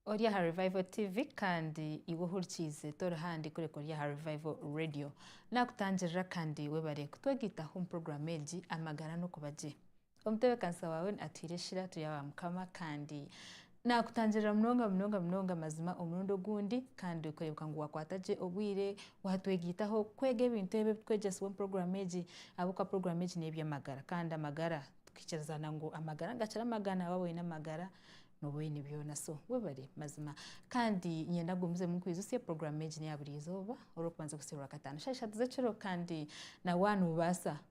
ori aha revival tv kandi iwe ohurikiize tori handi kureka ori aha revival radio nakutangirira kandi webare kutwegitaho omu puroguramu egi amagara n'okuba gye Omutebeekanisa waawe atwire eshira turi aba Mukama kandi naakutangirira munonga munonga munonga mazima omurundi ogundi kandi kureebeka ngu waakwata gye obwire waatwegaitaho kwega ebintu ebi ebitwegyesibwa omu puroguraamu egi ahabw'okuba puroguraamu egi n'eby'amagara kandi amagara tukikirizana ngu amagara nigakira amagana waaba oine amagara nooba oine byona so webare mazima kandi niinyenda ngumizeemu nkwijutsye puroguraamu egi n'eya buri izooba orikubanza kuhitsya orwakataano shaaha ishatu z'ekiro kandi nawe waaba noobaasa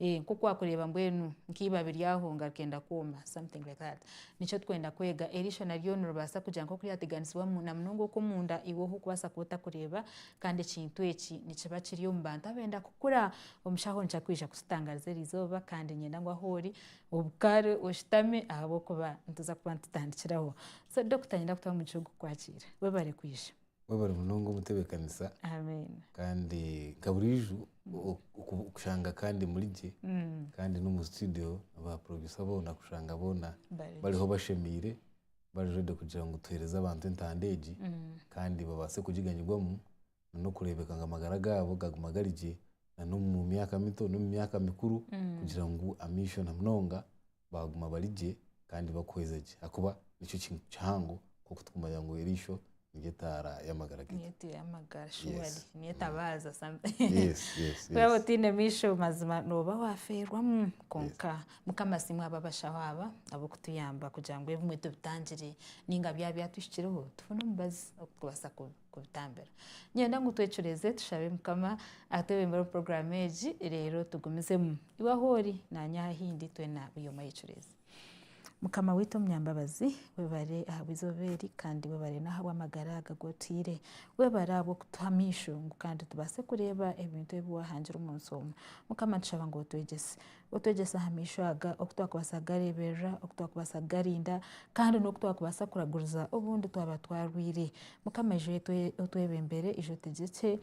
Eeh nk'oku wakureeba mbwenu nk'ibabi ryaho nga rikenda kwooma something like that. Nikyo turikwenda kweega, eri ishana ryo niribaasa kugira nk'oku ryateganisibwa na munonga okw'omunda iwe ohu orikubaasa kuba otakureeba kandi ekintu eki nikiba kiri omu bantu abenda kukura. Omushaho nikyo arikwija kututangariza eri izooba kandi niinyenda ngu ahu ori obukaare oshutame ahabw'okuba nituza kuba nitutandikiraho. So Dokita niinyenda kutwamu omugisha ogw'okukwakiira. Webare kwija. Webare munonga omutebekanisa kandi nka burijo kushanga kandi muri gye kandi nomu studio ba producer boona kushanga boona bariho bashemeire bari ready kugira ngu tuhereze abantu entanda egi kandi babase kugiganyirwamu nokurebeka ngu amagara gaabo gaguma gari gye na nomu myaka mito nomu myaka mikuru kugira ngu amaisho na munonga baaguma bari gye kandi bakuhweza gye ahakuba nikyo kintu kihango nk'oku tukumanya ngu eriisho niryo etaara y'amagara gaitu. Niyo etaara y'amagara surely. Niyo etabaaza ku waaba otaine maisho mazima nooba waafeerwa. Kwonka Mukama asiimwe ahabw'abashaho aba ab'okutuyamba kugira ngu ebimwe tubitangire nainga byaba byatuhikireho tufune omubazi ou turikubaasa ku. kubitambira. Niinyenda ngu twecureeze tushabe Mukama atwebembere omu puroguraamu egi reero tugumizemu. Iwe ahu ori, naanye aha ahindi, twena buri omwe ayecureeze. Mukama waitu omunyambabazi, webare ahabw'eizooba eri kandi webare n'ahabw'amagara aga agu otaire. Webare ahabw'okutuha amaisho ngu kandi tubaase kureeba ebintu ebi waahangire omu nsi omu. Mukama nitushaba ngu otwegyese. Otwegyese aha maisho aga oku twakubaasa kugareeberera, oku twakubaasa kugarinda kandi n'oku twakubaasa kuraguriza obundi twaba twarwaire. Mukama ija otwebembere, ija otegyekye.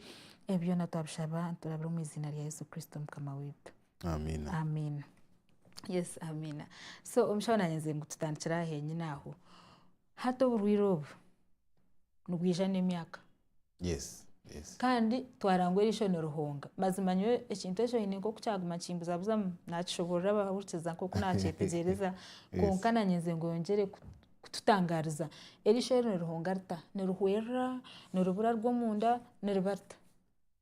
Ebi byona twabishaba niturabira omu iziina rya Yesu Kristo Mukama waitu. Amiina. Amiina. Yes, Amiina. So omushaho naanye nze ngu tutandikire aha henyine aho. Hati oburwaire obu nibwija n'emyaka. kandi twarangwa erisho nirihonga. Mazima nyowe ekintu ekyo hiine nk'oku kyaguma nikimbuzabuzamu, naakishoboorora abahurikiza nk'oku naakyetegyereza kwonka naanyenze ngu yongyere kututangaariza. Erisho nirihonga rita? Nirihwerera? Niribura rw'omunda? Niriba rita?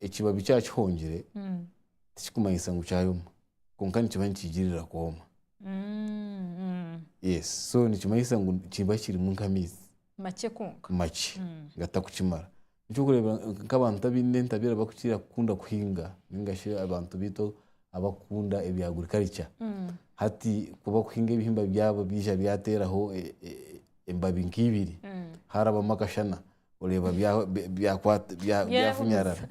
ekibabi kyaba kihongire tikikumanyisa ngu kyayoma kwonka nikiba nikiigirira kwoma. Yes so nikimanyisa ngu kiba kirimu nk'amaizi makye kwonka makye gatarikukimara. Nikyo orikureeba nk'abantu abaine entabeera barikukira kukunda kuhinga nainga shi abantu baitu abarikukunda ebya agriculture. Hati ku barikuhinga ebihimba byabo byaija byateeraho embabi nka ibiri, haarabamu akashana, oreeba byafunyarara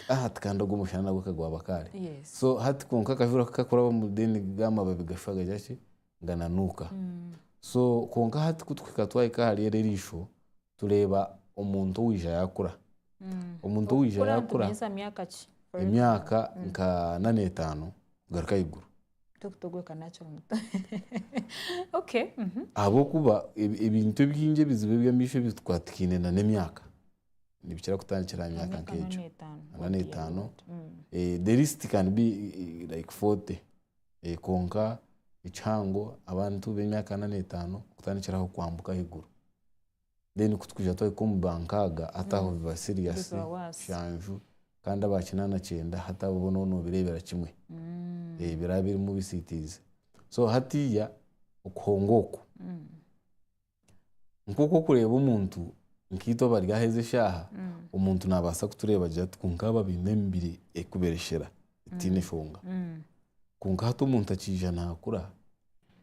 hati kandi ogwo mushana nagwo ka gwaba kaare. So hati kwonka akajura ku kakurabamu then ga amababi gashusha gagira ki, gananuuka. So kwonka hati ku turikuhika twahika ahari eryo eirishwa tureeba omuntu owaija yaakura. Omuntu owaija yaakura, emyaka nka nana etaano kugaruka ahaiguru. Ahabw'okuba ebintu ebingi ebizibu eby'amaisho ebi tukwatikaine na n'emyaka nibikira kutandikira aha myaka nk'egyo ana n'etaano the least can be like forty kwonka ekihango abantu b'emyaka ana n'etaano kutandikira aho kwambuka ahaiguru. then ku turikuhika twahika omu ba nkaaga hati aho biba serious nshanju kandi aba kinaana kyenda hati abo boona oraba noobireebera kimwe biraba birimu bisiitiizi so hatiiya okuhonga oku nk'oku orikureeba omuntu nkaitwe abari aha ezi eshaaha omuntu naabaasa kutureeba agira ati kwonka aba baine emibiri erikubereshera etaine shonga kwonka hati omuntu akaija naakura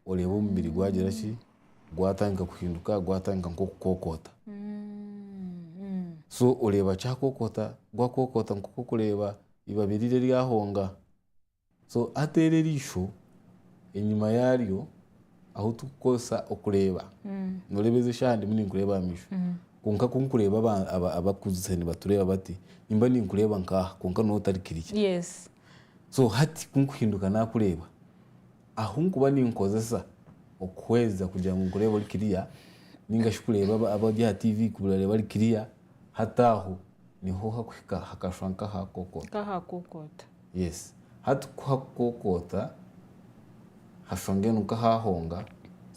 oreeba omubiri gwagira ki, gwatandika kuhinduka, gwatandika nk'okukokoota. So oreeba kyakokoota, gwakokoota nk'oku orikureeba eibabi riri eryahonga. So hati eri eriisho, enyima yaaryo ahu turikukoresa okureeba, nooreeba ezi eshaaha ndimu ninkureeba aha maisho. Kwonka ku ndikureeba abarikuguza nibatureeba bati, nimba ninkureeba nk'aha kwonka nooba otari kirya. So hati ku ndikuhinduka naakureeba. Ahu nkuba ninkozesa okuhweza kugira ngu nkureebe ori kiriya ninga shi kureeba aba- abari aha TV kubareeba bari kiriya, hati aho niho hakuhika hakashwa nk'aha kokoota. Nk'ahakokoota. Yes. Hati ku hakukokoota, hashwa mbwenu nk'ahahonga,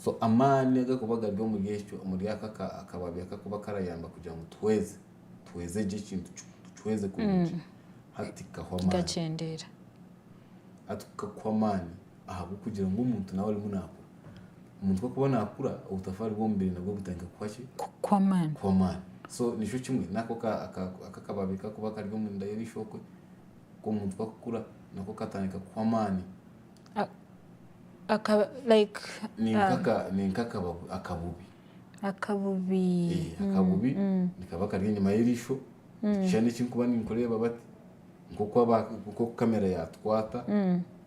so amaani agakuba gari omuri ekyo, omuri ako aka- akababi akakuba karayamba kugira ngu tuhweze. tuhweze gye ekintu tukihweze kurungi hati tikikakuha amaani kikakyendeera hati kukakuha amaani ahabw'okugira ngu omuntu nawe arimu naakura omuntu ku arikuba naakura obutafa ari bw'omubiri nabwo butandika kukuha ki kukuha amaani kukuha amaani so nikyo kimwe nako ka- aka- aka akababi kakuba kari omu nda y'eishookwe k'omuntu ku arikukura nako katandika kukuha amaani akaba like ni ah, nk'aka- ni nk'akababi akabubi Akabubi. Eh, akabubi nikaba kari enyima y'erisho, ekishushani eki nkuba ninkureeba bati, nk'oku aba nk'oku kamera yaatukwata,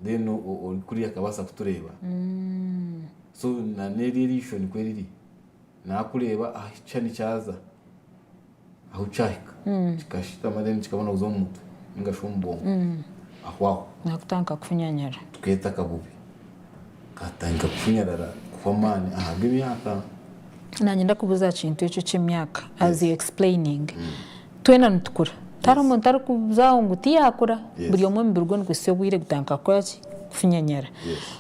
then o- o- ori kuriya akabaasa kutureeba. So na n'eri erisho nikwe riri, naakureeba aha kishushani kyaza. Ahu kyahika kikashitama then kikabona kuza omu mutwe ninga shi omu bwongo aho aho. Nakutanka kufunyanyara. Tukeeta akabubi. Katandika kufunyarara kuhwa amaani ahabwa emyaka. Nanye ndakubuza aha kintu ekyo eky'emyaka as you explaining. Twena nitukura. Tihariho omuntu ari kuza aho ngu tiyakura. Buri omwe omubiri gwe niguhitsya obwire gutanka kukora ki? Kufunyanyara.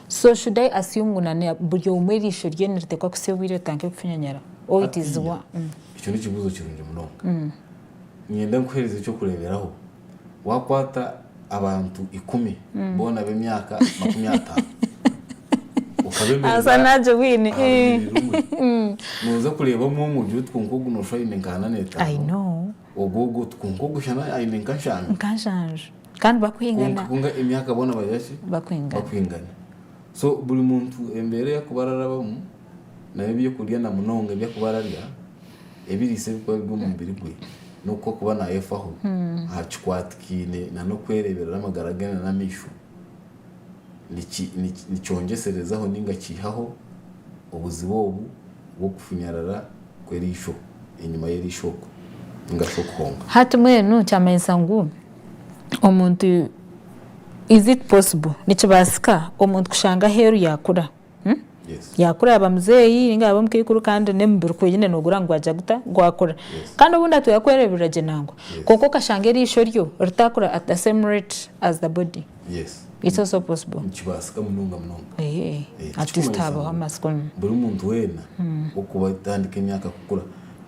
So should I assume ngu buri omwe erisho rye niritekwa kuhitsya obwire ritanke kufunyanyara? Or it is one. Ekyo n'ekibuuzo kirungi munonga. Niinyenda nkuheereze eky'okureeberaho. Waakwata abantu ikumi boona b'emyaka makumi ataano okabeemereza aha runyiriri rumwe, nooza kureeba omwe omwe ogira oti kwonka ogu nooshusha aine nka ana n'etaano, ogu ogu oti kwonka ogu shana aine nka nshanju. Kwonka emyaka boona bari baki? Bakwingana. So buri muntu embeera ei arikuba ararabamu. nabyo eby'okurya na munonga ebi arikuba ararya, ebiriisa ebirikuba biri omu mubiri gwe, n'oku arikuba naayefaho aha kikwatikaine n'okwereeberera amagara ge n'amaisho, niki niki nikyongyeserezaho nainga kiihaho obuzibu obu bw'okufunyarara kw'eriisho, enyima y'eriisho okwo, nainga shi okuhonka. Hati mbwenu kyamanyisa ngu omuntu, is it possible, nikibaasika omuntu kushanga aheeru yaakura? Yakura yaba muzeeyi ninga yaba omukaikuru kandi n'emibiri ku oine noogura ngu gwagya guta? Gwakura. Kandi obundi atuhe kwereeberera gye nangwa. Kwonka okashanga eriisho ryo ritaakura at the same rate as the body. It's also possible. Nikibaasika munonga munonga. Eeh. At least haabaho amatsiko. Buri muntu weena okuba atandika emyaka kukura,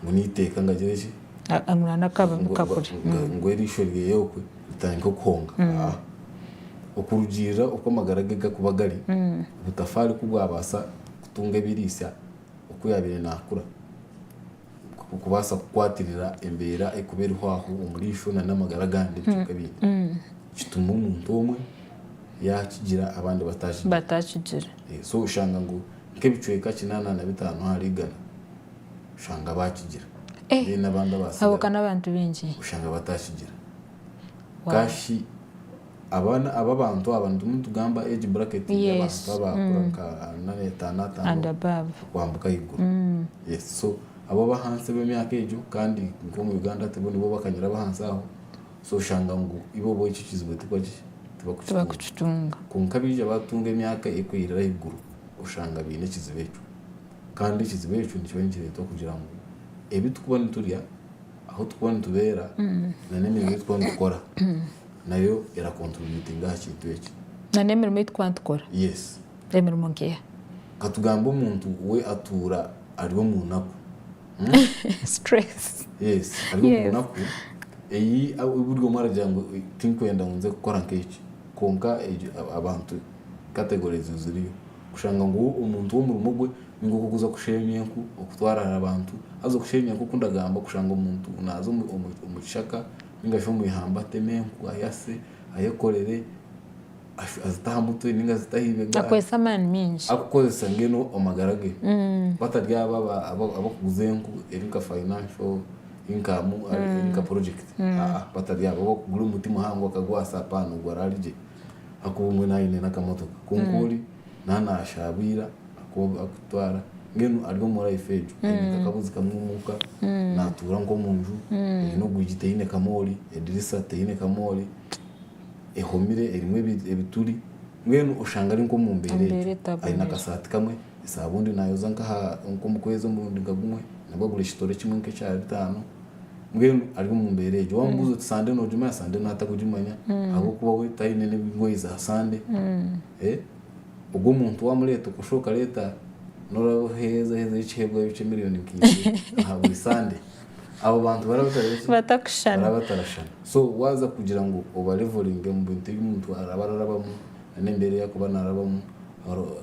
ngu n'eiteeka ngu agire ki? Ngu arikurana akabunu kakure. Ngu eriisho ryeye okwe. Butandika okuhonga. A Okurugiirira oku amagara ge gakuba gari, obutafaari ku bwabaasa kutunga ebiriisa oku yaabaire naakura, nikwo kubaasa kukwatirira embeera ekuba eriho aho omuri ishwa nana amagara agandi ebicweka ebindi. Kituma omuntu omwe yaakigira abandi bataakigire. Bataakigire. So oshanga ngu nk'ebicweka kinaana na bitaano ahari igana. Oshanga baakigira. Eh, Then n'abandi abo ka abaasigara n'abantu baingi. oshanga bataakigira. Wow. Ka shi abana aba abantu aba nitumwe nitugamba age bracket Yes. y'abantu abaakura nka ana etaano And ataano above. okwambuka ahaiguru. Mm. Yes, so abo ab'ahansi ab'emyaka egyo kandi nk'omu Uganda tibo nibo bakanyira ab'ahansi aho, so oshanga ngu ibo bo ekyo kizibu tibakora ki? Tibakukitunga. Tibakukitunga. Kwonka abaija baatunga emyaka erikweyirira ahaiguru, oshanga baine ekizibu ekyo. Kandi ekizibu ekyo nikiba nikireetwa kugira ngu ebi turikuba niturya, ahu turikuba nitubeera, n'emirimo ei turikuba nitukora nayo erakonturibitinga aha kintu eki. N'emirimo ei turikuba nitukora? Yes. Emirimo nk'eha? Ka tugambe omuntu we atuura ari omu naku. Stress. Yes. Ari omu naku ei buri omwe aragira ngu tinkwenda ngu nze kukora nk'eki. Kwonka abantu, categories ziriyo. Kushanga ngu omuntu w'omurimo gwe ninga okuguza kusheenya enku, okutwarara abantu, haza okusheenya nk'oku ndagamba kushanga omuntu naaza omu kishaka ninga shi omu ihamba atema enku ayase, ayekorere, azite aha mutwe ninga azite aha ibega, arikukoresa mbwenu amagara ge batari abo abarikuguza enku eri nka financial income, eri nka porojekiti, batari abo, abarikugura omuti muhango akagwasa, apaana ogwo araaligye. Hakuba omwe naaba aine n'akamotoka kwonka ori naaba naashaabwira akooba akutwara mbwenu ari omu life egyo aine nk'akabuzi kamwe omuka, naatuura nk'omu nju eine orwigi teine kamoori, edirisa teine kamoori, ehomire erimu ebituri mbwenu oshanga ari nk'omu mbeera Embeera egyo. etaboniire. Aine akasaati kamwe, esaabundi naayoza nk'aha nk'omu kwezi omurundi nka gumwe nabwo agura ekitore kimwe nk'ekya bitaano. mbwenu ari omu mbeera egyo wamubuuza oti sande nogimanya sande naata kugimanya ahabw'okuba we taine n'ebigoyi za sande Eh, ogwo omuntu wamureeta okoshuha okareeta n'oraba oheezeheezeyo ekihebwayo ky'emiliyoni nka ibiri aha buri sande abo bantu baraba batari ki Batakushushana. baraba batarashushana so waaza kugira ngu obalevolinge omu bintu ebi omuntu araba ararabamu n'embeera ei arikuba naarabamu oro-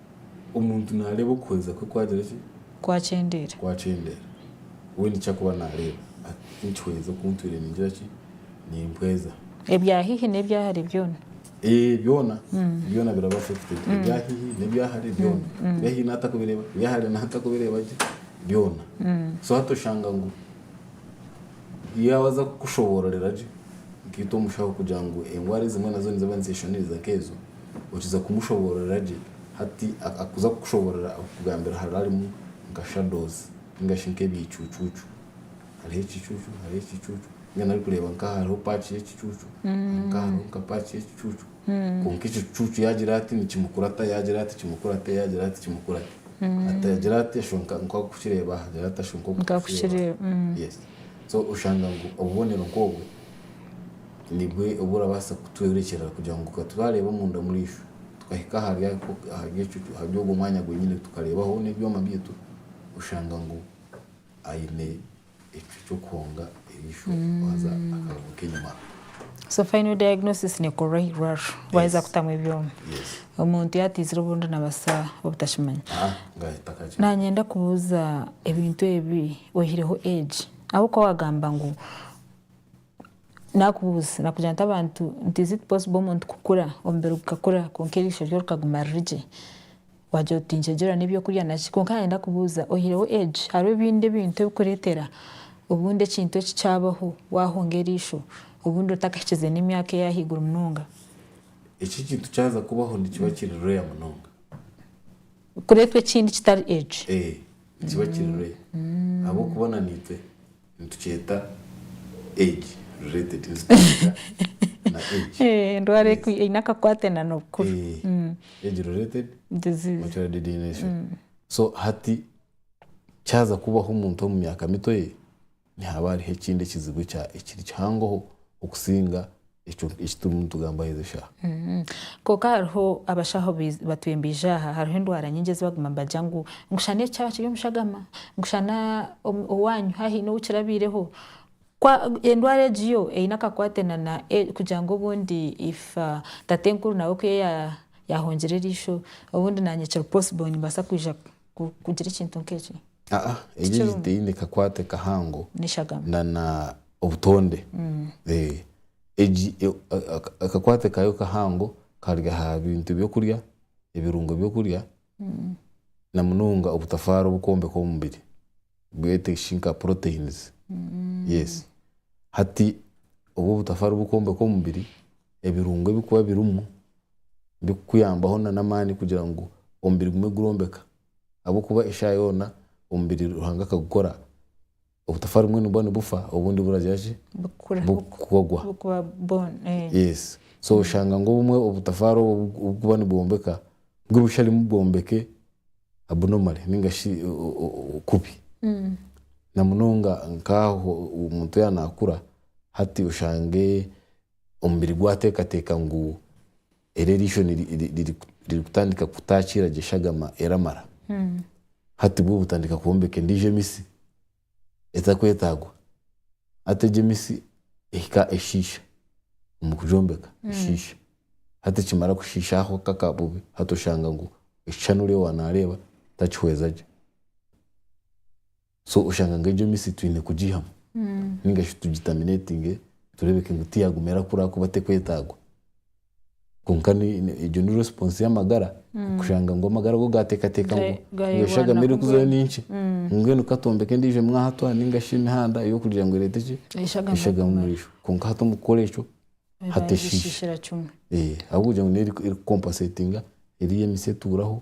Omuntu naareeba okuhweza kwe kwagira ki? Kwakyendeera. Kwakyendeera. We niki arikuba naareeba? Ati, Nkihweza oku ntwire ningira ki? Nimpweza. Ebya haihi n'ebya hare byona. Ee, byona. Byona birabaasa kuteekyerezwa. Ebya haihi n'ebya hare byona. Ebya haihi naata kubireeba, ebya hare naata kubireeba gye, byona. So hati oshanga ngu yaaba aza kukushoboororera gye nkaitwe omushaho kugira ngu endwara ezimwe nazo niziba nizeshoniriza nk'ezo, Okiza kumushoboororera gye hati akuza kukushoboorora akugambira haraarimu nka shadows ninga shi nk'ebiicuucuucu. Hariho ekiicuucu, hariho ekiicuucu, mbwenu arikureeba nk'aha hariho paaki y'ekicuucu, nk'aha hariho nka paaki y'ekicuucu. Kwonka ekicuucu yaagira ati nikimukurata, yaagira ati kimukurate, yaagira ati kimukurate. Hati agira ati ashusha nka nka okukireeba aha, agira ati ashusha nka okukireeba aha. Yes. So oshanga ngu obubonero nk'obwo. Nibwe obu orabaasa kutworekyeerera kugira ngu ka turaareebe omunda omuri ishwe, tukahika ahari ako, ahari ekyo, ahari ogwo mwanya gwenyine, tukareebaho n'ebyoma byaitu, oshanga ngu aine ekyo ky'okuhonga eriisho waaza akareebuka enyima. So final diagnosis nekorwa aha irwariro waaheza Yes. kutamu ebyoma. Yes. Omuntu yateizire obundi nabaasa obutakimanya. Ah, ngahita kakye. Nanyenda kubuuza ebintu ebi oyihireho egi ahabw'okuba wagamba ngu Naakubuuza, naakugira nti abantu nti is it possible omuntu kukura, omubiri gukakura kwonka eriisho ryo rikaguma riri gye? Waagira oti tinkyegyerwa n'eby'okurya naki. Kwonka naanye ndakubuuza, oyihireho age, hariho ebindi ebintu ebikureetera obundi ekintu eki kyabaho waahunga eriisho, obundi otakahikize n'emyaka ey'ahaiguru munonga? Eki ekintu kyaza kubaho nikiba kiri rare munonga. Kureetwa ekindi kitari age? Ee, nikiba kiri rare ahabw'okuba naniitwe. Nitukyeta age related nitukyeta na age Endwara Yes. ekwi- eine akakwate na n'obukuru. Eh, age related Disease. macular degeneration so hati kyaza kubaho omuntu omu myaka mito ye nihaba hariho ekindi ekizibu ekya- ekiri kihangoho okusinga ekyo eki turimu nitugambaho ezi shaha. Kwonka hariho abashaho batwembiija aha, hariho endwara nyingi ezi baguma nibagira ngu ngu shana eki kyaba kiri omu shagama, ngu shana owaanyu haaba haine ou kirabiireho. Kwa endwara egi yo eine akakwate na na kugira ngu obundi if tatenkuru nawe ku ya yaahungire eriisho, obundi naanye kiri possible nimbaasa kwija kugira ekintu nk'eki. Aa egyo Tikirungi. teine kakwate kahango N'eshagama. na na obutonde. Eh, egi e- a- a- akakwate kayo kahango kari aha bintu by'okurya, ebirungo by'okurya, na munonga obutafaari obukwombeka omubiri, bwete shi nka proteins. Yes. Hati obu obutafaari bukwombeka omubiri, ebirungo ebikuba birimu birikukuyambaho na n'amaani kugira ngu omubiri gume gurombeka ahabw'okuba eshaaha yoona omubiri Ruhanga akagukora obutafa rimwe nibwo nibufa obundi buragira ki? Bukugwa. Yes. So oshanga ngu obumwe obutafaari obwo obukuba nibwombeka nibwo busharimu bwombeke abnormally ninga shi kubi. Na munonga nk'aho omuntu yaaba naakura hati oshange Omubiri gwateekateeka ngu eri eriisho ririkutandika kutaakiira gye shagama eramara. Hati bwo butandika kwombeka endiijo emitsi etarikwetaagwa. Hati egyo emitsi ehika eshiisha omu kugyombeka, eshiisha. Hati kimara kushiisha aho kaka bubi, hati oshanga ngu ekishushani oriyo waaza naareeba takihweza gye. So oshanga ngu egyo misi twine kugiihamu ninga shi tugitaminatinge tureebeke ngu tiyaguma erakura ahakuba tekwetagwa. Kwonka egyo ni response y'amagara kushanga ngu amagara go gateekateeka ngu engo eshagama erikuzayo ni nkye mbwenu ka twombeke endiijo mwahatwa ninga shi emihanda ey'okugira ngu ereete ki? Eshagama omuri ishwa. Kwonka hati omu kukora ekyo hati eshiisha. Ahabw'okugira ngu neyo eri kukompasetinga eriiya emisi etuuraho.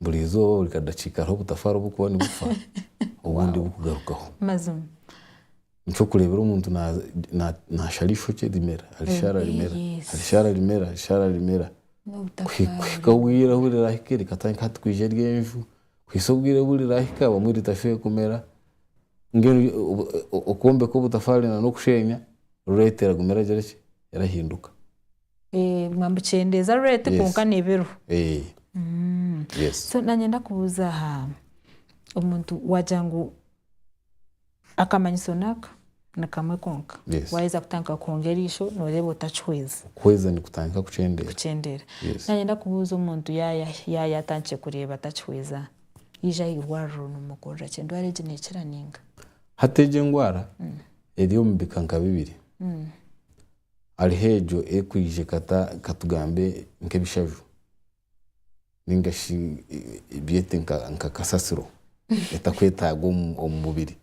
Buri izooba, buri kadakiika hariho obutafaari oburikuba nibufa obundi bukugarukaho. Mazima. Nk'okureebera omuntu naashara eishokye rimera, arishara rimera, arishara rimera, arishara rimera kuhika obwire obu riraahike rikatandika hati kwija eryenju kuhitsya obwire obu riraahika obumwe ritashweire kumera. Mbwenu okwombeka obutafaari n'okusheenya, rureetera gumira agira ki? Erahinduka. Biguma nibikyendeeza rate kwonka Yes. nebiro. Eh, yes. So nanye ndakubuuza aha omuntu wagira ngu akamanyiso naka nikamwe konka Yes. waheza kutandika kuhonga eriisho noreeba otakihweza Kuhweza nikutandika kukyendeera. kukyendeera. Yes. Nanye ndakubuuza omuntu yaya yaya atandikire kureeba atakihweza yaija aha irwariro nomukorera ki? Endwara egi nekira ninga? Hati egi endwara eri omu bika nka bibiri. Hariho egyo erikwija ekata, katugambe nk'ebishaju ninga shi byete nka kasasiro etakwetaaga omu mubiri.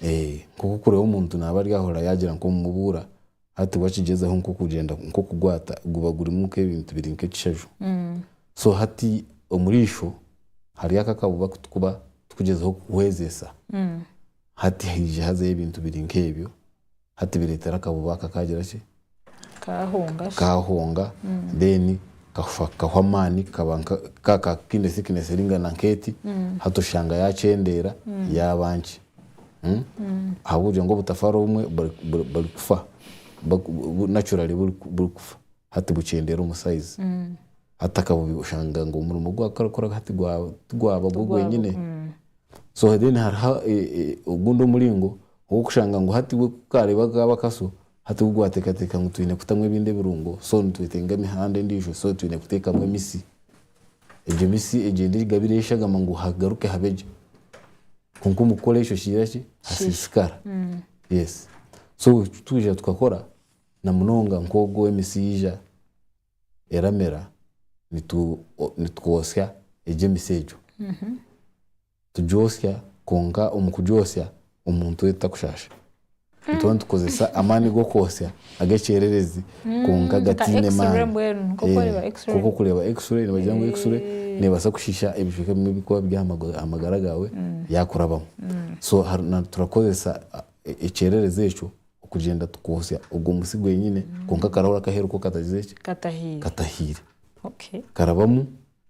Nk'oku orikureeba omuntu naaba ari aho oraba waagira ngu omubuura, hati wakigyezaho nk'okugyenda nk'okugwata guba gurimu nk'ebintu biri nk'ekishaju. So hati omuriisho hariyo aka akabuba aku turikuba turikugyezaho kuhwezesa, hati haija hazayo ebintu biri nk'ebyo. Hati bireetera akabuba aka kaagira ki? Kaahunga shi? Kaahunga, then kafa kakahwa amaani, kaba nka ka ka kaine thickness eringana nk'eti, hati oshanga yaakyendeera yaaba nki? Ahabw'okugira ngu obutafaari obumwe buri buri burikufa, buri naturally buri burikufa, hati bukyendeera omu size. Hati akabubi oshanga ngu omurimo ogu karikukora hati gwa tigwaba gwo gwenyine. So then hariho e e ogundi omuringo Ow'okushanga ngu hati we ku kaareeba kaaba kaso, hati we gwateekateeka ngu twine kutamu ebindi ebirungo, so nitwetenga emihanda endiijo, so twine kuteekamu emitsi. Egyo mitsi egyo endi erigabira eshagama ngu hagaruke habe gye. Kwonka omu kukora ekyo kigira ki? Hasiisikara. Yes. So eki twija tukakora, namunonga nk'ogu ow'emitsi yaija eramera, nitu nitukotsya egyo emitsi egyo. Tujootsya kwonka omu kujootsya omuntu we tutakushaasha. Nituba nitukozesa amaani g'okwotsya ag'ekyererezi kwonka gataine maani. Nk'oku orikureeba X-ray, nibagira ngu X-ray neebaasa kushiisha ebicweka bimwe ebirikuba biri aha magara gaawe yaakurabamu. So turakozesa ekyererezi ekyo okugyenda tukwotsya ogwo musyo gwenyine kwonka akarahuri akaheeru ko katagize ki? Katahiire. Karabamu.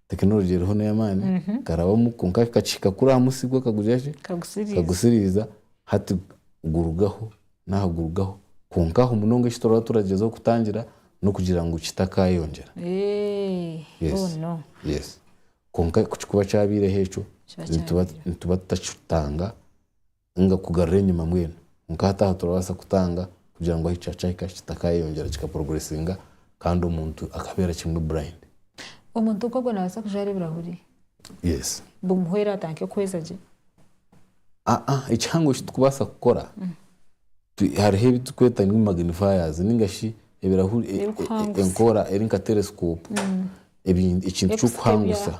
Tekinology eriho neyamaani karabamu kwonka kakihika kuri aha musi gwe kakagugira ki? Kagusiriiza hati gurugaho naha gurugaho kwonka aho munonga eki turaba turagyezaho kutangira nokugira ngu kitakayongyera. Yes kwonka kukikuba kyabeireho ekyo nituba tutakitanga Inga kugarura enyima mbwenu kwonka hati aha turabaasa kutanga kugira ngu ahi kyacahika ahi kitakayeyongyera kika progressinga kandi omuntu akabeera kimwe blind. Omuntu nk'ogwo nabaasa kujwara ebirahuri? Yes. Bumuhwere atanke kuhweza gye? Aa ekihango eki tukubaasa kukora hariho ebi tukweta ngu magnifiers ninga shi ebirahuri enkora eri nka telescope ekintu ky'okuhangusa.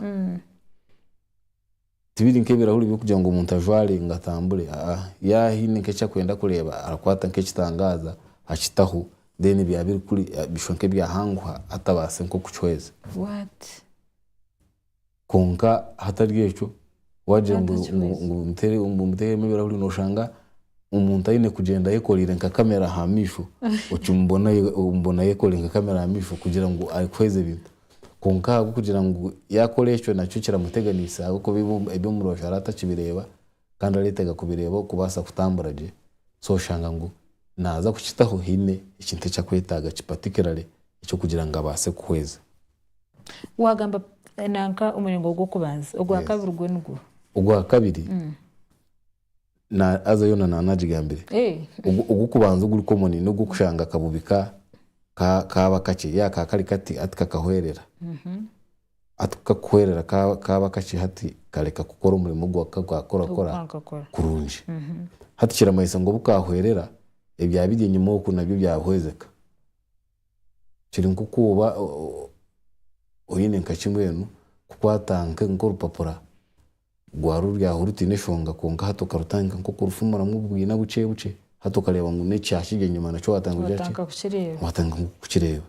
Tibiri nk'ebirahuri by'okugira ngu omuntu ajware ngu atambure aa, yaaba haine nk'eki arikwenda kureeba arakwata nk'ekitangaaza akitaho then byaba biri kuri bishusha nk'ebyahanguha atabaase nk'okukihweza. What? Kwonka hatari ekyo waagira ngu ngu muteeremu ebirahuri nooshanga omuntu aine kugyenda ayekoreire nka kamera aha maisho, okimubona omubonayo ayekoreire nka kamera aha maisho kugira ngu arikuhweza ebintu. Kwonka ahabw'okugira ngu yaakora ekyo nakyo kiramuteganisa ahabw'okuba ebi eby'omu rubaju araba atakibireeba kandi areetega kubireeba okubaasa kutambura gye. So oshanga ngu naaza kukitaho haine ekintu eki akwetaaga ki particularly eky'okugira ngu abaase kuhweza. Waagamba nanka omuringo gw'okubanza. Ogwa Yes. kabiri gwo nigwo? Ogwa kabiri, Na aza yona na nagigambire. Eh. Ogu kubanza oguri common ni ogu kushanga akabubi ka ka kaba kakye ya ka kari kati hati kakahwerera. Hati ku kakuhwerera ka kaba kakye hati kareka kukora omurimo ogu ka ka kora kora kurungi. Hati kiramanyisa ngu obu kahwerera ebya biri enyima oku nabyo bya hwezeka. Kiri nkoku oba oyine nka ki mbwenu kukwata nka orupapura Rwari oruryaho rutaine eshonga kwonka hati okarutandika nk'oku orufumuramu obwina bukye bukye. Hati okareeba ngu n'eki kyakiri enyima nakyo waatandika nk'oku kukireeba.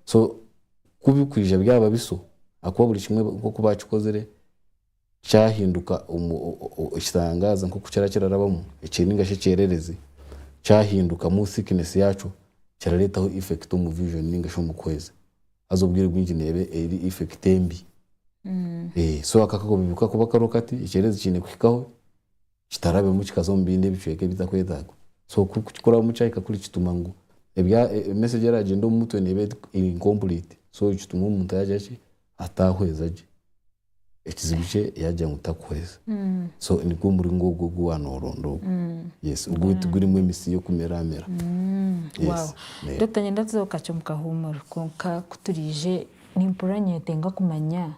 So ku birikwija byaba biso ahakuba buri kimwe nk'oku baakikozire kyahinduka ekitangaaza nk'oku kiraba kirarabamu nainga shi ekyererezi kyahindukamu thickness yaakyo kirareetaho effect omu vision nainga shi omu kuhweza. haza obwire bwingi neeba eri effect embi. So ako akakobe bikakuba kariho kati, ekyereezi kiine kuhikaho kitarabemu kikaza omu bindi ebicweka ebitakwetagwa. So ku kikurabamu kyahika kuri kituma ngu message eragyenda omu mutwe neeba eri incomplete. So kituma omuntu yagira ki, atahweza gye. ekizibu kye yaagira ngu takuhweza. So nigwo muringo ogwo ogu waaba nooronda ogwo. Yes, ogwo tigurimu emisiri y'okumeramera. Yes. Wow. Dokita nyenda tuze ku kakye omu kahuumuro kwonka ku turaije nimpurira nyetenga kumanya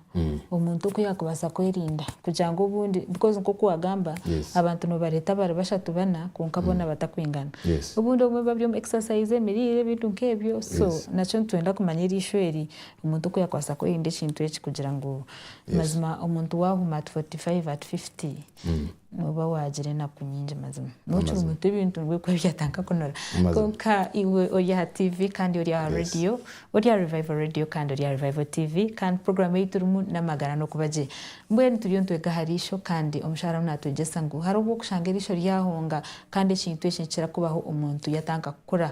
omuntu oku yaakubaasa kwerinda kugira ngu obundi because nk'oku waagamba Yes. abantu noobareeta bari bashatu bana kwonka boona batakwingana. Yes. Obundi obumwe buba buri omu exercise, emiriire ebintu nk'ebyo so Yes. nakyo nitwenda kumanya eriisho eri Omuntu ku yakwasa kwerinda ekintu eki kugira ngu mazima omuntu wahuma at 45 at 50 noba wagira enaku nyingi mazima nokiri muto ebintu nibwo orikuba byatanka kunura kwonka iwe ori aha TV kandi ori aha radio ori aha Revival Radio kandi ori aha Revival TV kandi program eyi turimu namagara nokuba gye mbwenu turiyo nitwega aha riisho kandi omushaija arimu natwegyesa ngu hariho obwokushanga eriisho ryahunga kandi ekintu eki nikikira kubaho omuntu yatanka kukura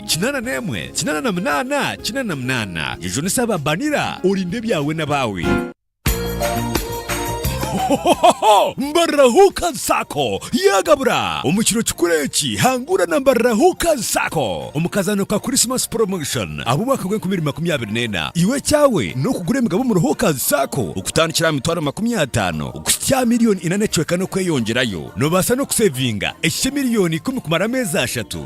Kinaana n'emwe, kinaana na munaana, kinaana na munaana. Jujunisa aba Banira, orinde ebyawe n'abaawe. Hohohoho! Mbarira Hookers Sacco yaagabura! Omu kiro kikuru eki, hangura na Mbarira Hookers Sacco omu kazaano ka Christmas Promotion ah'omwaka gw'enkumi ibiri makumi abiri n'ena. Iwe ekyawe n'okugura emigabo omuri Hookers Sacco okutandikira aha mitwaro makumi ataano okuhitsya aha milioni ina n'ecweka n'okweyongyerayo. Noobaasa n'okuseevinga ekikye milioni ikumi kumara ameezi ashatu.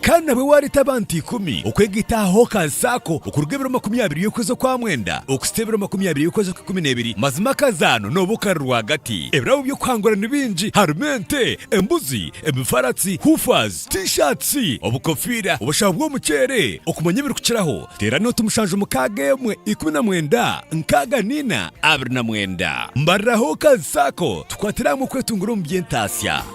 Kandi nabwe waareeta abantu ikumi okwega itaaha aha okansi ako okuruga ebiro makumi abiri y'okwezi okwa mwenda okusita ebiro makumi abiri y'okwezi okw'ikumi n'ebiri, mazima akazaano nooba okari rwagati. Ebirabo by'okuhangura ni bingi, harimu ente, embuzi, emifaratsi, hoofahs, T-shirts, obukofiira, obushaho bw'omuceere, okumanya ebirikukiraho, teerana oti mushanju mukaaga emwe ikumi na mwenda nkaaga na ina abiri na mwenda. Mbarira aha okansi ako tukwatire hamwe okwetunguura omu by'entaatsya.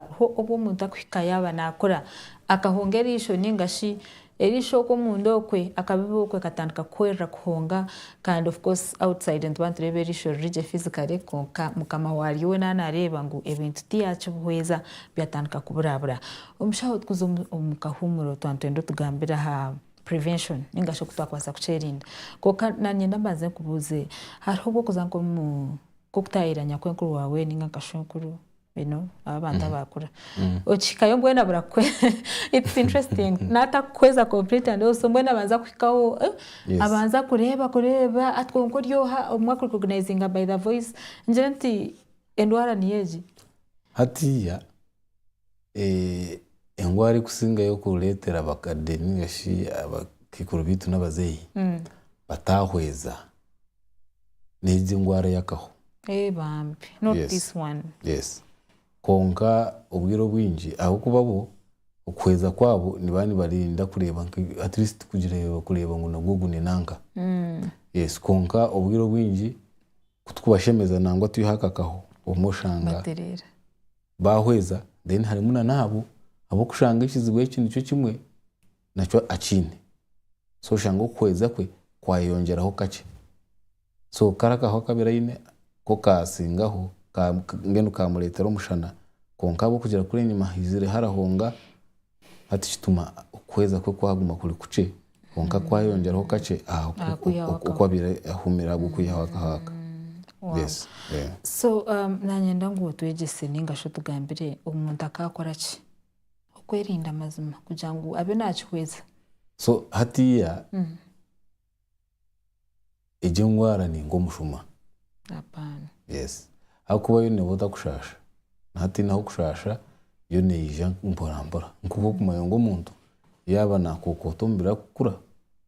Hariho obu omuntu akuhika yaaba naakura, akahonga eriisho nainga shi eriisho okwo omunda okwe akabiba okwe katandika kuhwerera kuhonga kandi of course outside nituba nitureeba eriisho riri gye physically kwonka mukama waaryo we naaba naareeba ngu ebintu tiyaakibihweza byatandika kuburabura. Omushaho tukuza omu kahuumuro tuba nitwenda otugambire aha prevention ningashi oku twakubaasa kukyerinda kwonka nanyenda mbanze nkubuuze hariho obwokuza nkomu nkokutaayaayira nyakw'enkuru waawe ninga nka shwenkuru you know abo abantu mm-hmm. abaakura mm-hmm. okihikayo mbwenu abura kukweza it's interesting mm-hmm. n'atakukweza complete and also mbwenu abanza kuhikaho eh, abanza kureeba kureeba atwonka ori oha omwe akurecognizinga by the voice ngire nti endwara niyo egi hatiya Engwara erikusingayo kureetera abakadde nainga shi abakaikuru baitu n'abazeeyi bataahweza, n'egi engwara y'akaho. Kwonka obwire obwingi ahabw'okuba bo okuhweza kwabo nibaba nibarinda kureeba ngu at least kureeba ngu nagwo gune nanka. Kwonka obwire obwingi ku turikubashemeza nangwa twihaho akakaho obumwe oshanga. bahweza then harimu na naabo abokushanga ekizibu eki nikyo kimwe nakyo akiine so oshange okuhweza kwe kwayeyongyeraho kakye so kara akaho akabire aine ko kasingaho mbwenu kamuretera omushana kwonka ahabwokugira kuri enyima haizire harahonga Hati kituma okuhweza kwe kwaguma kuri kukye, kwonka kwayongyeraho kakye aha oku abaire ahumire ahabwa oku Yahwe akahaaka. So nanyenda ngu otwegyese ninga shi otugambire omuntu akakora ki okwerinda mazima kugira ngu abe nakihweza. So hatiiya Egyo engwara ni nk'omushuma. Apana. Yes. Ahakuba yo neeba otakushaasha. Naatiine ah'okushaasha, yo neija mporampora. Nk'oku okumanya ngu omuntu yaaba naakookoota omubiri arikukura,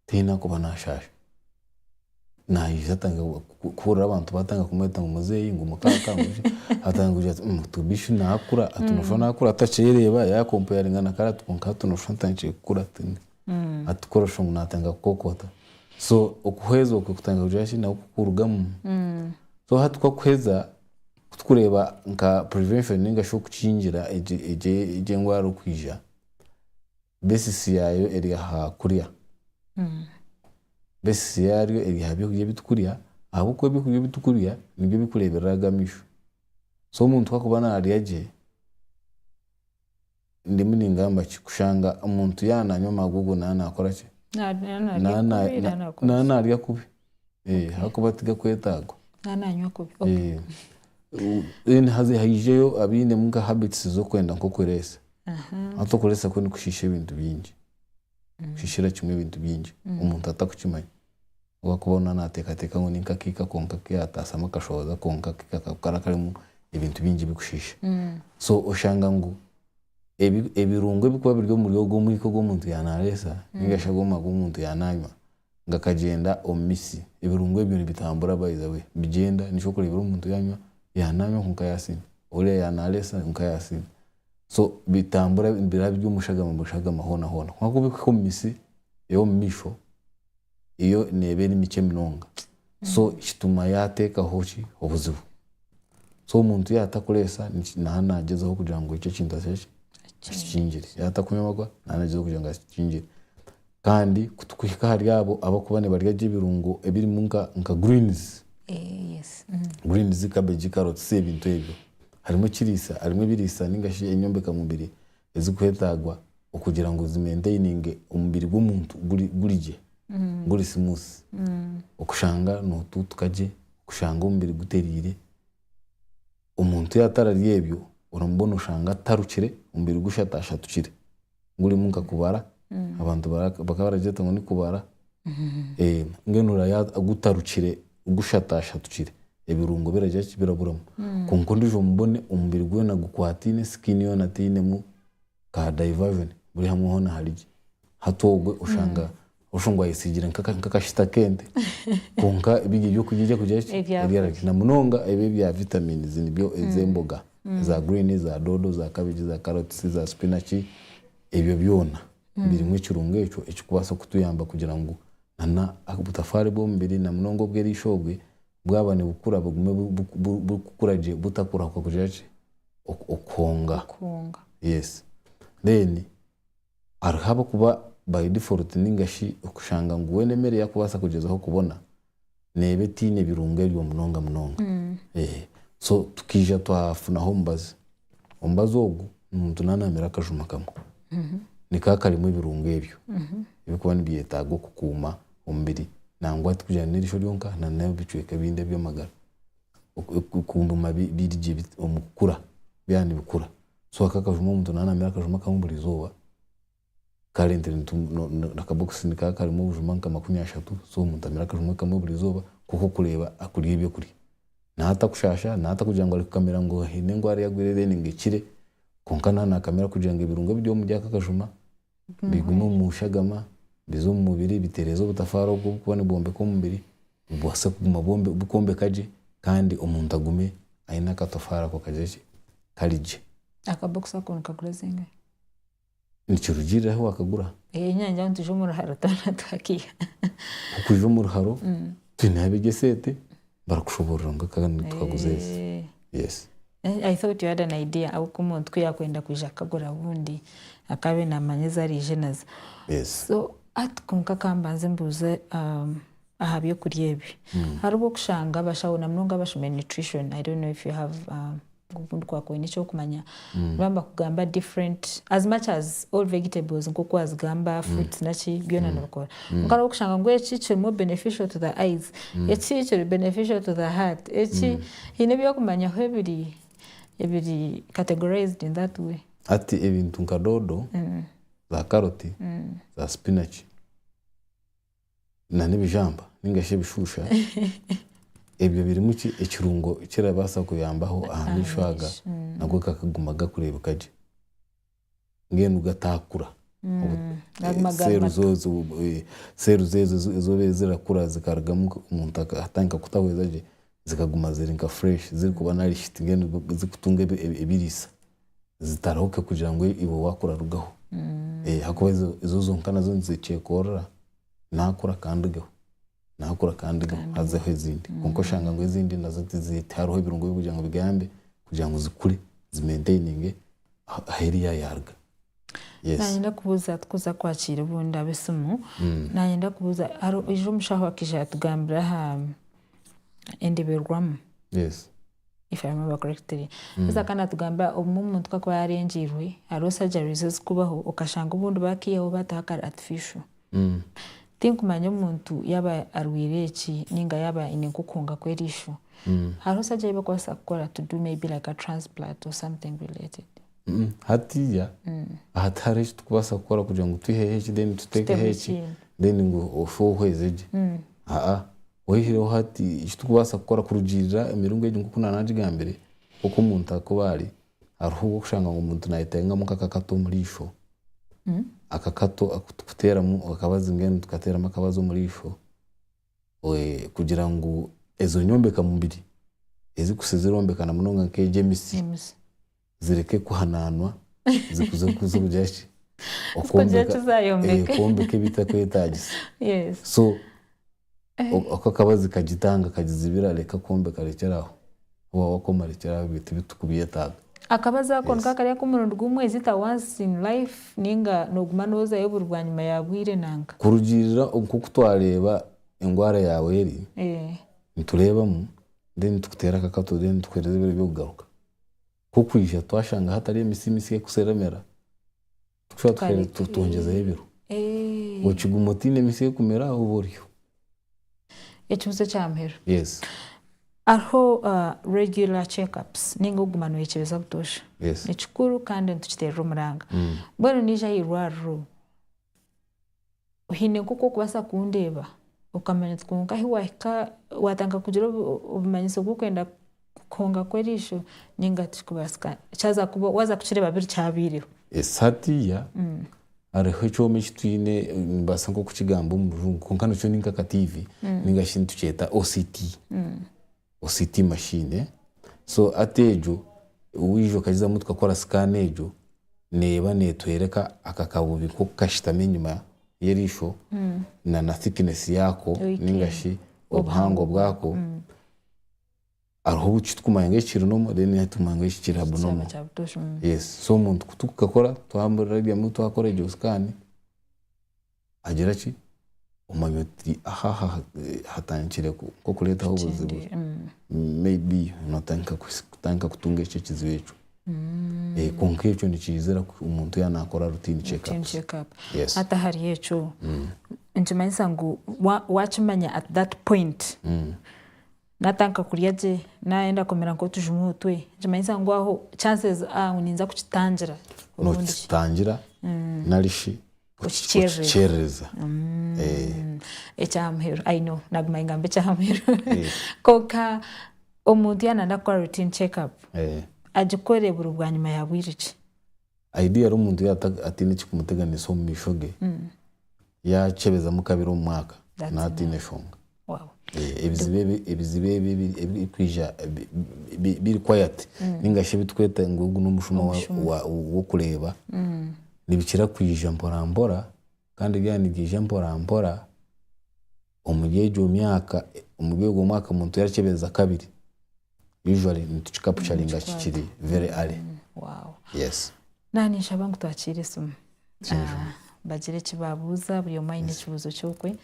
tihaine arikuba naashaasha. Naija atange kuhurira abantu baatandika kumweta ngu muzeeyi, ngu mukaaka, ngu ki, atandika kugira ati mh, hati bishi naakura, hati nooshusha naakura atakyereeba, yaakompayaringa na kare ati kwonka hati nooshusha ntanikire kukura. atukorosha ngu natandika kukokota so okuhweza okwe kutandika kugira ki nako kukurugamu so hati kwakuheza kutukureba nka prevention ninga shi okukingira egyo engwara okwija basis yayo eri aha kurya basis yaryo eri aha byokurya ebitukurya ahabw'okuba ebyokurya ebitukurya nibyo bikureberera aga misho so omuntu ku akuba narya gye. Ndimu ningamba ki? Kushanga omuntu yaaba naanywa amagugu naaba naakora ki? Naaba naarya kubi ahabw'okuba tigakwetaagwa. Then haza haijeyo abainemu nka habits z'okwenda nk'okureesa. Hati okureesa kwe nikushiisha ebintu bingi. kushishira kimwe ebintu bingi omuntu atakukimanya obu arikuba weena nateekateeka ngu ni nk'akaika konka aku yaataasyamu akashohoza konka akaika ako kariba karimu ebintu bingi birikushiisha. So oshanga ngu ebi ebirungo ebirikuba biri omuri ogwo omwika ogu omuntu yaanaareesa nainga shi ogwo mwaka ogu omuntu yaanaanywa gakagyenda omu mitsi. Ebirungo ebyo nibitambura by the way nibigyenda nikyo orikureebera omuntu yaanywa yaanaanywa kwonka yaatsindwa, oriya yaanaalesa kwonka yaatsindwa. So bitambura biraba biri omu shagama mu shagama hoona hoona kwonka ku birikuhika omu mitsi ey'omumaisho yo neeba eri mikye munonga so kituma yaateekaho ki obuzibu. So omuntu yaaba atarikureesa naaha naagyezaho kugira ngu ekyo ekintu akore ki akikingire. Yaaba atarikunwa amarwa naaha naagyezaho kugira ngu akikingire. Kandi ku tukuhika ahari abo abakuba nibarya gye ebirungo ebirimu nka nka greens, Eh, yes. Mm. greens, cabbage, carrots, ebintu ebyo, harimu ekiriisa, harimu ebiriisa ninga shi enyombeka mubiri ezikuha etaagwa okugira ngu zi maintaininge omubiri gw'omuntu guri guri gye, guri smooth. Okushanga notuutuka gye, okushanga omubiri guteriire. Omuntu yatararya ebyo, oramubona oshanga atarukire, omubiri gushatashatukire. gurimu nka kubara abantu bakaba baragyeta ngu ni kubara mbwenu orareba gutarukire gushatashatukire ebirungo biragira ki biraburamu kwonka ondiijo mubone omubiri gwona gukwataine skin yoona teinemu ka diversion buri hamwe hoona hari gye hati ogwe oshanga Oshungu ayetsigire nk'akashita k'ente kwonka biri eby'okurya eri kugira ki? Eri aha kurya. Na munonga ebi ebya vitaminizi nibyo ez'emboga za guriini, za doodo, za kabegi, za karotisi, za sipinaci, ebyo byona birimu ekirungo ekyo ekirikubaasa kutuyamba kugira ngu n'obutafaari bw'omubiri na munonga obw'erisho obwe bwaba nibukura bugume burikukura gye butakubaho kugira ki? Okuhonga. Okuhonga. Reero. Hariho ab'okuba bari default ninga shi okushanga ngu weena emere ei akubaasa kugyezaho kubona neeba etaine birungo ebyo munonga munonga. So tukaija twafunaho omubazi. Omubazi ogu ni muntu naanaamire akajuma kamwe. Nikaba karimu ebirungo ebyo ebirikuba nibyetaaga okukuuma omubiri nangwa tikugira ngu n'erisho ryonka na n'ebicweka ebindi eby'amagara. Kuguma biri gye omu kukura, byaba nibikura. so aka akajuma omuntu naba namira akajuma kamwe buri izooba kare akabokisi nikaba karimu obujuma nka makumi ashatu so omuntu amire akajuma kamwe buri izooba kwonka okureeba akurya ebyokurya naha atakushaasha naha atakugira ngu arikukamira ngu haine endwara eyagwire then ngu ekire kwonka naha nakamira kugira ngu ebirungo ebiri omuri ako akajuma bigume omu shagama, bize omu mubiri, bitereeze obutafaari obu burikuba nibwombeka omubiri, bubaase kuguma bukwombeka gye kandi omuntu agume aine akatofaari ako kagire ki? Kari gye. Akabokisi ako nikagura zingahi? Nikirugiirira ahu waakagura. Ngira ngu twije omu ruharo twona twakaiha. Ku kwija omu ruharo, twineho abeegi eseete. barikushoborora ngu eka ni tukaguza ezi. Eh. Yes. Eh, I thought you had an idea ahu k'omuntu ku yakwenda kwija kukagura bundi akabe namanya ezi arije nazo. Yes. So, hati kwonka ka mbanze mbuuze um, aha by'okurya ebi. Hariho okushanga abashaho na munonga abashomire nutrition, I don't know if you have um, Obundi kwakora n'ekyokumanya niba nibakugamba different as much as all vegetables nk'oku wazigamba mm. fruits naki byona mm. nibikora mm. nkara okushanga ngu eki kirimu beneficial to the eyes eki kiri beneficial to the heart eki hiine ebyokumanyaho ebiri ebiri categorized in that way ati ebintu nka dodo za carrot za spinach na n'ebijamba ninga shi ebishuusha ebyo birimu ki ekirungo ekirabaasa kuyambaho aha maisho aga nago gakaguma gakureebeka gye mbwenu gataakura cells ezo ezobaire zirakura zikarugamu omuntu atandika kutahweza gye zikaguma ziri nka fresh zirikuba nourished mbwenu zikutunga ebiriisa. zitarahuke kugira ngu iwe wakurarugaho ahakuba ezo zonka nazo nizikyekorera nakura kandigeho nakura kandigeho hazeho ezindi kwonka oshanga ngu ezindi nazo tihariho ebirungo ebirikugira ngu bigambe kugira ngu zikure zi maintaininge ahu eri yayaruga. Nayenda kubuza tikuza kwakira obundi abesimu, nayenda kubuza haija omushaho akaija yatugambira aha endeberwamu if I remember correctly haza kandi natugamba obumwe omuntu kakuba yarengiirwe hariho surgeries ezikubaho okashanga obundi bakiihaho bataho akari artificial tinkumanya omuntu yaba arwaire eki ninga yaba aine nk'okuhunga kw'eriisho hariho surgery ei bakubaasa kukora to do maybe like a transplant or something related hatiiya hati hariho eki tukubaasa kukora kugira ngu twiheho eki then tuteekeho Tuteho eki ekindi. then ngu ofe ohweze gye aa Oihireho hati eki turikubaasa kukora kurugiirira emiringo egi nk'oku naanagigambire, nk'oku omuntu arikuba ari, hariho obwokushanga ngu omuntu nayetengamu nk'akakato omu riisho, akakato aku turikuteeramu akabazi mbwenu nitukateeramu akabazi omu riisho kugira ngu ezo nyombeka mubiri ezikuhitsya zirombekana munonga nk'egy'emitsi. zireke kuhanaanwa zikuze kugira ki? okwombeka ebitakwetaagisa. So oku akabazi kagitanga kagizibira reka kwombeka rekyera aho. Waaba wakoma rekyera aho ebyo tibitukubyetaaga. Akabazi ako nikwo akari ak'omurundi gumwe, is it a once in life ninga nooguma noozayo buri bwanyima ya bwire nanka? Kurugiirira nk'oku twareeba endwara yaawe eri, nitureebamu then nitukuteera akakato then nitukuheereza ebiro by'okugaruka. Ku kwija twashanga hatari emitsi misya ekuseremera, tushusha tuheeru twongyezeho ebiro. Okiguma otaine emitsi ekumera oba oryo. Ekibuzo ekya muheru. Yes. Hariho regular check ups ninga okuguma noyekyebeza butoosha. Yes. Nikikuru kandi nitukiteerera omuranga. Mbwenu naija aha irwariro. oine nk'oku orikubaasa kundeeba okamanya nti kwonka ahu waahika waatandika kugira obumanyiso bw'okwenda kuhunga kw'eriisho nainga tikikubaasika waaza kukireeba biri kyabaireho. Esaati ya, hariho ekyoma eki twine nimbaasa nk'okukigamba omu rujungu kwonka nikyo ni nk'akatiivi nainga shi nitukyeta OCT. OCT machine eh so ati egyo waija okagizamu tukakora scan egyo neeba networeka aka kabubi nkoku kashitami enyima yeriisho na na thickness yaako ninga shi obuhango bwaako hariho obu kiturikumanya ngu eki kiri normal then hariho ekiturikumanya ngu eki kiri abnormal yes so omuntu kutukakora twamurabyamu twakora egyo scan agira ki, omanya oti aha hatandikire nk'okureetaho obuzibu, may be nootandika kutandika kutunga ekyo ekizibu ekyo. Kwonka ekyo nikiizira omuntu yaaba naakora routine check up. Hati ahari ekyo, nikimanyisa ngu waakimanya at that point, naatandika kurya gye, naayenda kumira nk'otujuma otwe, nikimanyisa ngu aho chances are ngu ninza kukitangira. Nookitangira nari shi. kukikyerereza ekyamuheru i know naguma ningamba ekyamuheru kwonka omuntu yaaba nayenda kukora routine check up agikore buri bwanyima ya bwire ki? Ideally omuntu yaaba ataine ekirikumuteganisa omu maisho ge, yaakyebezamu kabiri omu mwaka naaba ataine nshonga. Ebiziba ebi ebirikwija biri quiet ninga shi ebiturikweta ngu ogu n'omushuma w'okureeba nibikira kwija mporampora kandi byaba nibyija mporampora omuri egyo myaka, omuri ogwo mwaka omuntu yaakyebereza kabiri. usually nitukicapucaringa kikiri very early. Wow. Yes. Naha ninshaba ngu twakiire esimu. Ah, bagire eki baabuuza, buri omwe aine ekibuuzo ky'okwe.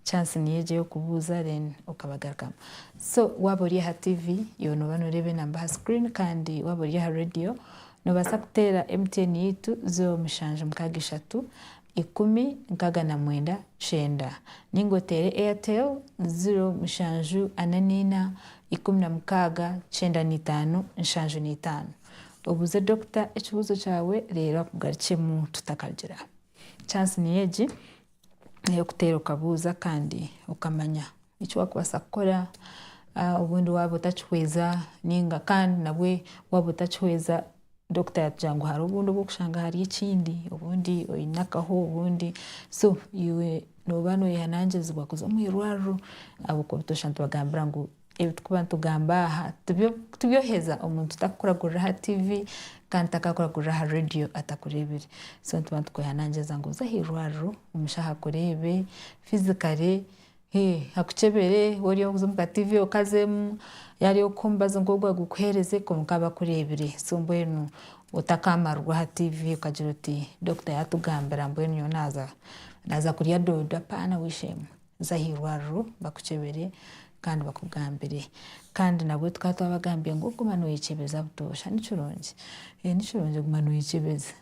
Chance niyo egyo y'okubuuza then okabagarukamu. So waaba ori aha TV, iwe nooba nooreeba enamba aha screen kandi waaba ori aha radio, noobaasa kuteera MTN yaitu, zo mushanju mukaaga ishatu, ikumi nkaga na mwenda kyenda ninga oteere Airtel ziro mushanju ana neina ikumi na mukaaga kyenda neitaano nshanju neitaano obuuze Dokita ekibuuzo kyawe reero akugarukyemu tutakarugira aha chance niyo egi eyokuteera okabuuza kandi okamanya eki wakubaasa kukora obundi waaba otakihweza ninga kandi nabwe waaba otakihweza Dokita yatugire ngu hariho obundi obu orikushanga hari ekindi, obundi oine akaho, obundi so iwe nooba nooyehanangirizibwa kuza omu irwariro ahabw'okuba ebi twaashusha nitubagambira ngu ebi turikuba nitugamba aha tibyoheza omuntu tarikukuragurira aha tiivi kandi tarikukuragurira aha reediyo atakureebire. So nituba nitukwehanangiriza ngu oze aha irwariro omushaho akureebe fizikare Eeh akukyebere wori oze omu ka TV okazemu yari okukubaza ngu ogu agukuhereze kwonka abakurebire so mbwenu otakamarwa aha TV okagira oti doctor yatugambira mbwenu nyowe naza naza kurya dodo apana we shame za ahirwariro bakukyebere kandi bakugambire kandi nabwo tukaba twabagambire ngu guma noyekyebeza butosha nikirungi nikirungi guma noyekyebeza.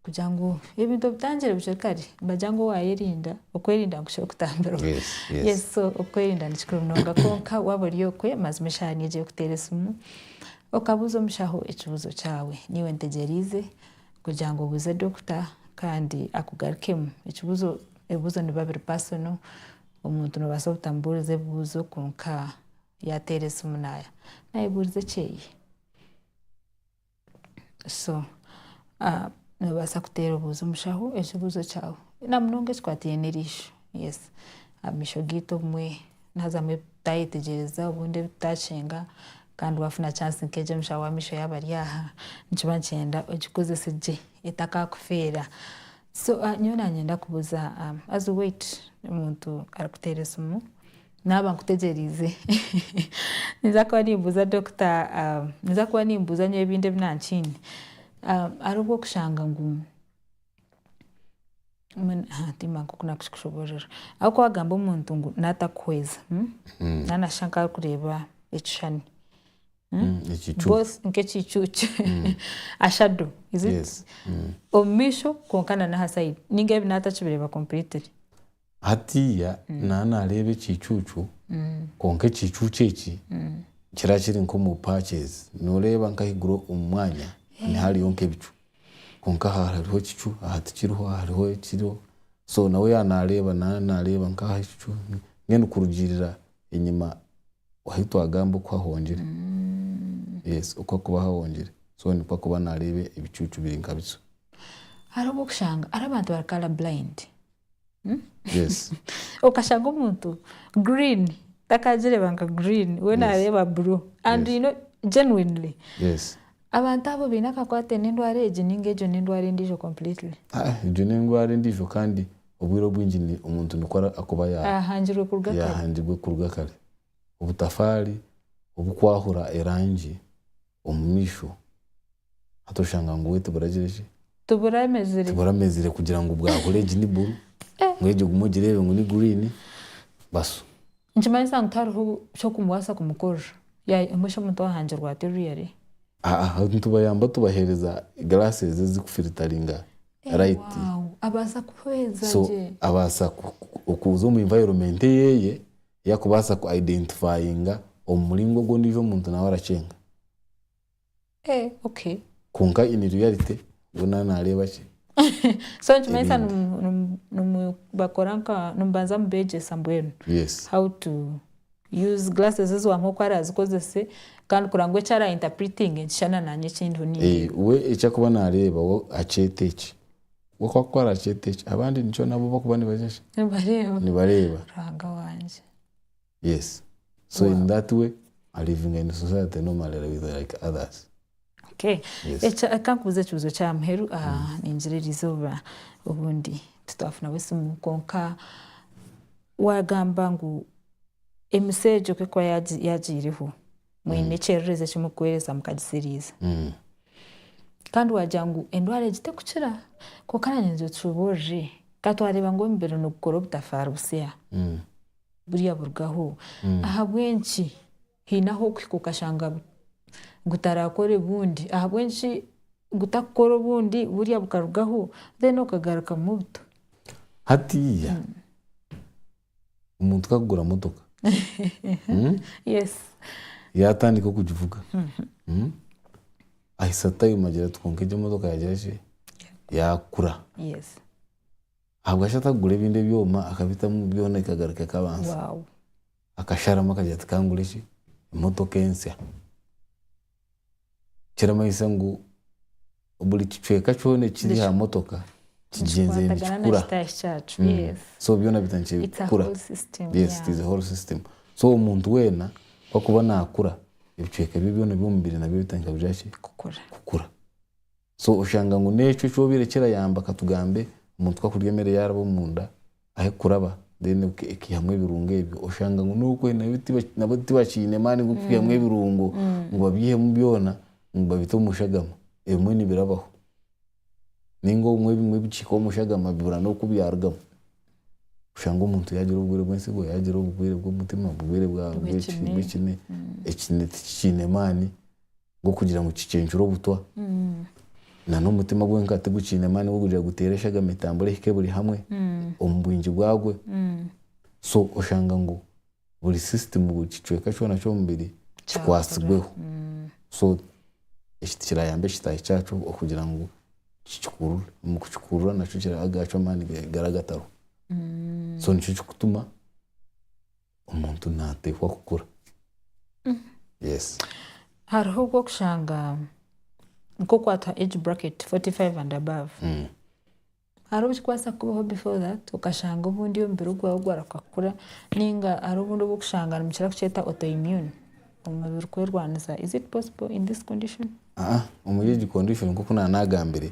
Kugira ngu ebintu obitangire bukye kare nibagira ngu waayerinda, okwerinda nikukira okutambirwa. Yes, yes. Yes, so okwerinda ni kikuru munonga kwonka waaba ori okwe mazima eshaaha niyo ogiye kuteera esimu okabuuza omushaho ekibuuzo kyawe. Naiwe ntegyereize kugira ngu obuuze dokita kandi akugarukemu. Ekibuuzo, ebibuuzo nibiba biri personal, omuntu noobaasa obutamubuuriza ebibuuzo kwonka yaateera esimu naayebuuriza ekyeye. so noobaasa kuteera obuuzi omushaho ekibuuzo kyawe namunonga ekikwataine n'erisho, yes amaisho geitu obumwe nihaazamu ebitutaayetegyereza obundi ebitutaakyenga kandi waafuna chance nk'egyo omushaho w'amaisho yaaba ari aha nikiba nikyenda ogikozese gye etakaakufeera, so nyowe naanye ndakubuuza haza weight omuntu arikuteera esimu. Naaba nkutegyeriize. Ninza kuba nimbuuza dokita, ninza kuba nimbuuza nyowe ebindi ebi nankiine. Hariho obwokushanga ngu, mbwenu ha timba nk'oku nakukikushoboorora. Aho ku waagamba omuntu ngu naatakuhweza, naaba nashusha nka arikureeba ekishushani, nk'ekiicucu, a shadow, is it? Omu maisho kwonka na n'aha side, ninga ebi naatakibireeba completely. Hatiiya naaba naareeba ekiicuucu, kwonka ekiicuucu eki kiraba kiri nk'omu patches. Nooreeba nk'ahaiguru omu mwanya niho hariyo nk'ebicu. Kwonka aha hariho ekicu, aha tikiriho, aha hariho ekiriho. So nawe yaaba naareeba, naaba naareeba nk'aha ekicu, mbwenu kurugiirira enyima ahu twagamba oku hahongire. Yes, oku harikuba hahongire. So nikwo arikuba naareeba ebicuucu biri nka bityo. Hariho obwokushanga, hariho abantu bari colour blind. Yes. okashanga omuntu green takagireba nka green we Yes. nareeba blue and Yes. you know genuinely Yes. abantu abo baine akakwate n'endwara egi ninga egyo n'endwara endiijo completely Ah, egyo n'endwara endiijo kandi obwire obwingi ni- omuntu nikwo ara- akuba ya- ahangirwe kuruga kare yahangirwe kuruga kare obutafaari obukwahura erangi omu maisho hati oshanga ngu we tibura gira ki? Tibura emezire. Tibura emezire kugira ngu bwahura egi ni buru ngu egi ogume ogireebe ngu ni green basu. Nikimanyisa ngu tihariho ky'okumubaasa kumukorera. Yaye mbwenu shi omuntu ohangirwe ati really? Haa hati nitubayamba tubaheereza glasses ezikufiritaringa light. Ewawu abaasa kuhweza gye. So abaasa okuza omu environment eyeye yakubaasa ku identifyinga omu muringo ogu ondiijo omuntu nawe arakyenga. Eh, okay. Kwonka in reality we nawe naareeba ki? So nikimanyisa Ebindi. nimu- nimu- nimu- bakora nka nimubanza mubeegyesa mbwenu Yes. how to use glasses ezi wamuha oku araazikozese kandi kurora ngu eki ara interpretinge nikishushana naanye eki ndiho nindeeba. Eh, we eki akuba naareeba we akyeeta eki. Gwe ku akukoorera akyete ki? Abandi nikyo nabo bakuba nibagira ki? Nibareeba. Nibareeba. Ruhanga wangye. Yes. So in that way, a living in society normally are with like others. Okay. Yes. Ekya reka nkubuuze ekibuuzo kya muheru ningira erizooba obundi titwafunaho esimu kwonka waagamba ngu emisyo egyo ku ekuba yaagiireho, mwine ekyererezi eki murikuheereza mukagitsiriiza. Kandi waagira ngu endwara egi terikukira, kwonka naanye nigira otushoboorore. Ka twareeba ngu omubiri nigukora obutafaari butsya, buriya burugaho. Ahabw'enki haine ahu okuhika okashanga gutarakore obundi? Ahabw'enki gutarikukora obundi buriya bukarugaho then okagarukamu buto? Hatiiya, omuntu kakugura motoka yatandika okugivuga ahitsya time agira ati kwonka egi emotoka yagira ki, yakura. Ahabwaki atakugura ebindi ebyoma akabitamu byona ekagaruka ekabanza. Akasharamu akagira ati kangure ki, emotoka ensya. Kiramanyisa ngu buri kicweka kyona ekiri aha motoka kigyenzire nikikura. So byona biheza nikikura. So omuntu weena ku arikuba naakura, ebicweka bye byona eby'omubiri nabyo bitandika kugira ki? Kukura. So oshanga ngu n'ekyo ekyobaire kirayamba katugambe omuntu ku akurya emere yaaraba omunda ahe kuraba then ekaihamu ebirungo ebyo oshanga ngu n'okwe nabo tibakiine maani g'okwihamu ebirungo ngu babyihemu byona ngu babite omu shagama ebimwe nibirabaho nainga obumwe ebimwe bikihika omu shagama bibura n'oku byarugamu oshange omuntu yaagira oburwaire bw'entsigo yaagira oburwaire bw'omutima oburwaire bw'ekine ekine tikikiine maani g'okugira ngu kicencure obutwa, na n'omutima gwe nka tigukiine amaani g'okugira guteere eshaga mitambura ehike buri hamwe omu bwingi bwagwe. So oshanga ngu buri system, buri kicweka kyona ky'omubiri kikwatsirweho. So eki tikirayamba ekitaahi kyakyo okugira ngu kikikurure. Omu kukikurura nakyo agaakyo amaani gaagira agatariho. So nikyo kirikutuma omuntu nateekwa kukura yes hariho obu okushanga nk'oku hatuha age bracket 45 and above Mm. hariho obu kikubaasa kukubaho before that okashanga obundi omubiri gwawe gwaruga kukura nainga hariho obundi obu okushanga nimukira kukyeta autoimmune omubiri kwerwanisa is it possible in this condition? Aa omuri egi condition nk'oku naanagambire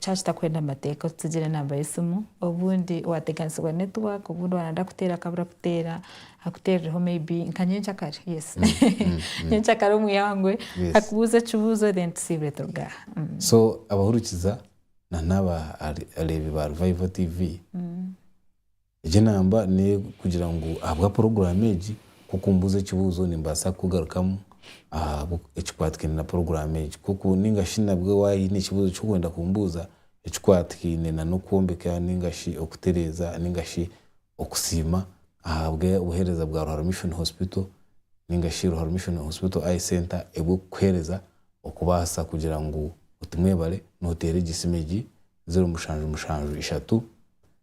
Kyaba kitakwenda amateeka otutsigira enamba y'esimu obundi wateganisibwa network obundi wanayenda kuteera akabura kuteera akuteerireho maybe nka nyenkyakare yes nyenkyakare omwihangwe akubuuze ekibuuzo then tusiibire turuga aha. So abahurikiza na n'abareebi ba Revival TV. Egi enamba n'ey'okugira ngu ahabwa puroguraamu egi, ku okumbuuza ekibuuzo nimbaasa kukugarukamu aha ekikwatikaine na puroguraamu egi. Ku ori nainga shi nabwe waine ekibuuzo eki orikwenda kumbuuza ekikwatikaine na n'okwombeka nainga shi okutereeza nainga shi okusiima ahabwa obuheereza bwa Ruharo Mission Hospital nainga shi Ruharo Mission Hospital Eye Centre ebw'okukuheereza okubaasa kugira ngu otumwebare nooteera egi simu egi, zeero mushanju mushanju ishatu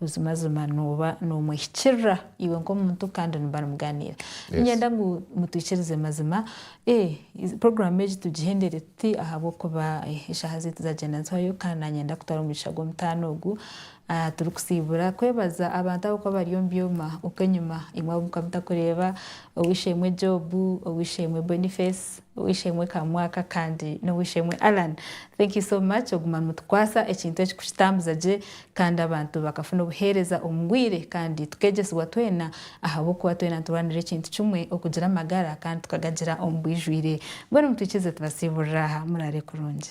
Buzimazima nooba noomwehikirira iwe nk'omuntu kandi nimuba nimugaaniira. Niinyenda ngu mutwikirize mazima puroguraamu egi tugihendere tuti ahabw'okuba eshaaha zaitu zaagyenda nizihwayo kandi naanyenda kutwara omu mugisha gw'omutaano ogu. Turikusiibura kwebaza abantu ab'okuba bari omu byoma okwenyima eimwe abu mukaba mutakureeba, ow'eishe-emwe Job, ow'eishe-emwe Boniface, Ow'eishe-emwe Kamwaka kandi n'ow'eishe-emwe Allan, thank you so much oguma nutukwasa ekintu eki kukitambuza gye kandi abantu bakafuna obuheereza omu bwire kandi tukegyesibwa twena ahabw'okuba twena niturwanira ekintu kimwe okugira amagara kandi tukagagira omu bwijwire. Mbwenu mutwikize tubasiiburire aha. Muraare kurungi.